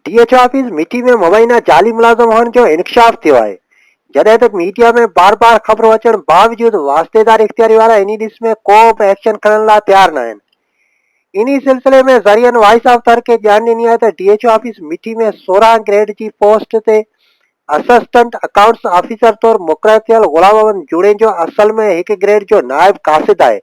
D H office Mithi ۾ مبينا جعلي ملازم هئڻ جو انڪشاف ٿيو آهي جڏهن ته ميڊيا ۾ بار بار خبرون اچڻ باوجود واسطيدار اختياري وارا انهي ڏس ۾ ڪو به ايڪشن کڻڻ لاء تيار نه آهن انهي سلسلي ۾ ذريعن وائس آف تر کي ڄاڻ ڏني آهي ته ڊي ايڇ آفيس مٺي ۾ سورهن گريڊ جي پوسٽ تي اسسٽنٽ اڪائونٽس آفيسر طور مقرر ٿيل غلام احمد جوڻيجو اصل ۾ هڪ گريڊ جو نائب قاصد آهي،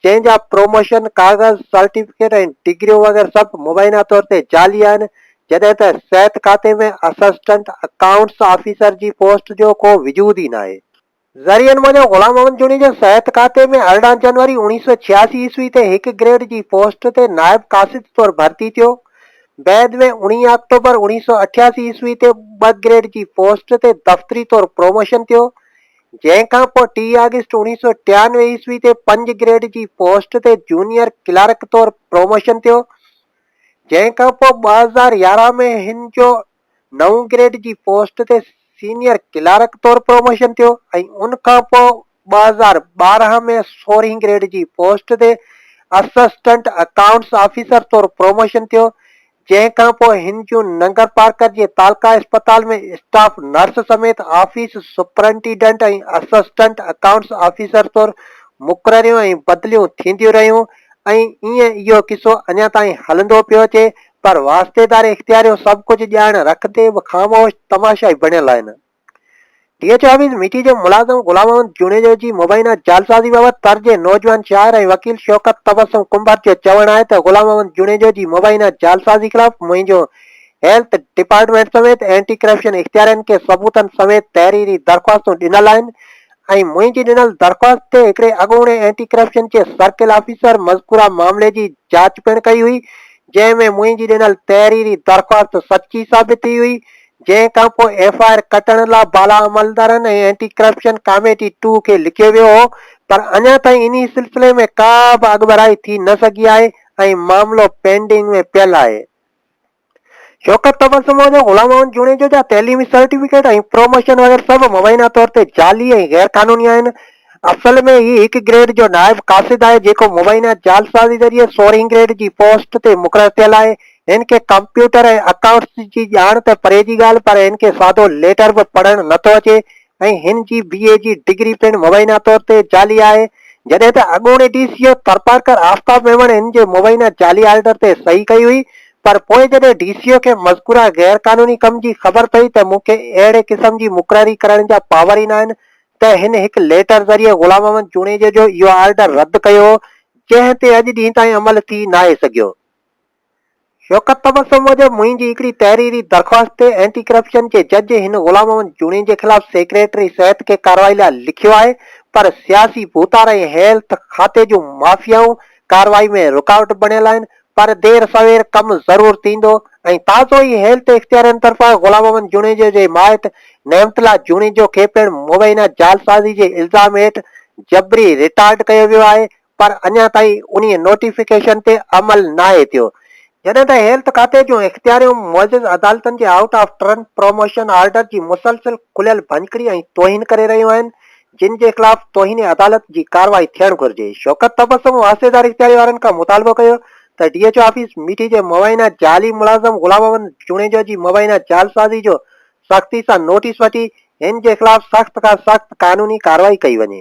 جنهن جا پروموشن ڪاغذ، سرٽيفڪيٽ ۽ ڊگريون وغيره سڀ مبينا طور تي جعلي آهن، جڏهن ته صحت کاتي ۾ اسسٽنٽ اڪائونٽس آفيسر جي پوسٽ جو ڪو وجود ئي ناهي. ذريعن موجب غلام محمد جوڻيجو صحت کاتي ۾ ارڙهن جنوري اوڻيهه سؤ ڇياسي عيسوي تي هڪ گريڊ جي پوسٽ تي نائب قاصد طور ڀرتي ٿيو. بعد ۾ اوڻيهه آڪٽوبر اوڻيهه سؤ اٺياسي عيسوي تي ٻه گريڊ جي پوسٽ تي دفتري طور پروموشن ٿيو، جنهن کان پوء ٽي آگسٽ اوڻيهه سؤ ٽيانوي عيسوي تي پنج گريڊ جي پوسٽ تي جونيئر ڪلارڪ طور پروموشن ٿيو، جنهن کان پوء ٻه هزار يارهن ۾ هن جو نو گريڊ جي پوسٽ تي سينيئر ڪلارڪ طور پروموشن ٿيو ۽ ان کان پوء ٻه هزار ٻارهن ۾ سورهين گريڊ جي پوسٽ تي اسسٽنٽ اڪائونٽس آفيسر طور پروموشن ٿيو جنهن کان پوء هن جون ننگر پارڪر جي تعلقه اسپتال ۾ اسٽاف نرس سميت office superintendent ۽ assistant accounts officer طور مقرريون ۽ بدليون ٿينديون رهيون ۽ ايئن اهو قصو اڃا تائين هلندو پيو اچي پر واسطيدار اختيار جو سڀ ڪجهه ڄاڻ رک تي به خاموش تماشائي بڻيل آهن. D H O office Mithi جي ملازم غلام محمد جوڻيجو جي مبينا جعلسازي بابت تر جي نوجوان شاعر ۽ وڪيل شوڪت تبسم ڪنڀر جو چوڻ آهي ته غلام محمد جوڻيجو جي مبينا جعلسازي خلاف منهنجو هيلٿ ڊپارٽمينٽ سميت اينٽي ڪرپشن اختيارين کي ثبوتن سميت تحريري درخواستون ڏنل آهن ۽ منهنجي ڏنل درخواست تي هڪڙي اڳوڻي anti corruption case circle officer مذڪوره معاملي جي جاچ پڻ ڪئي هئي، جنهن ۾ منهنجي ڏنل تحريري درخواست سچي ثابت ٿي هئي، جنهن کانپوء ايف آء آر ڪٽڻ لا بالا عملدارن ۽ اينٽي ڪرپشن ڪاميٽي ٽو کي لکيو ويو هو، پر اڃا تائين انهي سلسلي ۾ ڪا به اڳڀرائي ٿي نه سگهي آهي ۽ معاملو پينڊنگ ۾ پيل آهي. شوڪت تبر سمو جو غلام محمد جوڻيجو جا تعليمي سرٽيفڪيٽ ۽ پروموشن وغيره سڀ مبينا طور تي جعلي ۽ غير قانوني آهن. اصل ۾ هي هڪ گريڊ جو نائب قاصد آهي جيڪو مبينا جعلسازي ذريعي سورهين گريڊ جي پوسٽ تي مقرر ٿيل آهي. هن کي ڪمپيوٽر ۽ اڪائونٽس جي ڄاڻ ته پري جي ڳالهه پر هن کي سادو ليٽر به پڙهڻ نه ٿو اچي. ۽ هن جي بي اي جي ڊگري پڻ مبينا طور تي جعلي آهي، جڏهن ته اڳوڻي D C O Tharparkar Aftab Memon هن جي مبينا جعلي آرڊر تي صحيح ڪئي هئي، پر پوء جڏهن ڊي سي او کي مذڪوره غير قانوني ڪم جي خبر پئي ته مون کي اهڙي قسم جي مقرري ڪرڻ جا پاور ئي ناهن ته هن هڪ ليٽر ذريعي غلام محمد جوڻيجو جو اهو آرڊر رد ڪيو هو، جنهن تي اڄ ڏينهن تائين عمل ٿي ناهي سگهيو. شوڪت تبسم موجب منهنجي هڪڙي تحريري درخواست تي اينٽي ڪرپشن جي جج هن غلام محمد جوڻيجي خلاف سيڪريٽري صحت کي ڪارروائي لاء لکيو آهي پر سياسي ڀوتار ۽ هيلٿ کاتي جون مافيائون ڪارروائي ۾ رڪاوٽ بڻيل آهن پر دير سوير ڪم ضرور ٿيندو ۽ تازو ئي هيلٿ اختيارين طرفان غلام محمد جوڻيجي جي مائٽ نعمت الله جوڻيجو کي پڻ مبينا جعلسازي جي الزام هيٺ جبري رٽائرڊ ڪيو ويو آهي پر اڃا تائين انهي نوٽيفڪيشن تي عمل ناهي ٿيو، جڏهن ته هيلٿ کاتي جون اختياريون معزز عدالتن جي out of turn promotion order جي مسلسل کليل ڀڃڪڙي ۽ توهين ڪري رهيون آهن، جن جي خلاف توهين عدالت جي ڪارروائي ٿيڻ گهرجي. شوڪت تبسم واهسيدار اختياري وارن کان مطالبو ڪيو ته D H O office Mithi جي مبينا جعلي ملازم غلام محمد جوڻيجو جي مبينا جعلسازي جو سختي سان نوٽيس وٺي هن جي خلاف سخت کان سخت قانوني ڪارروائي ڪئي وڃي.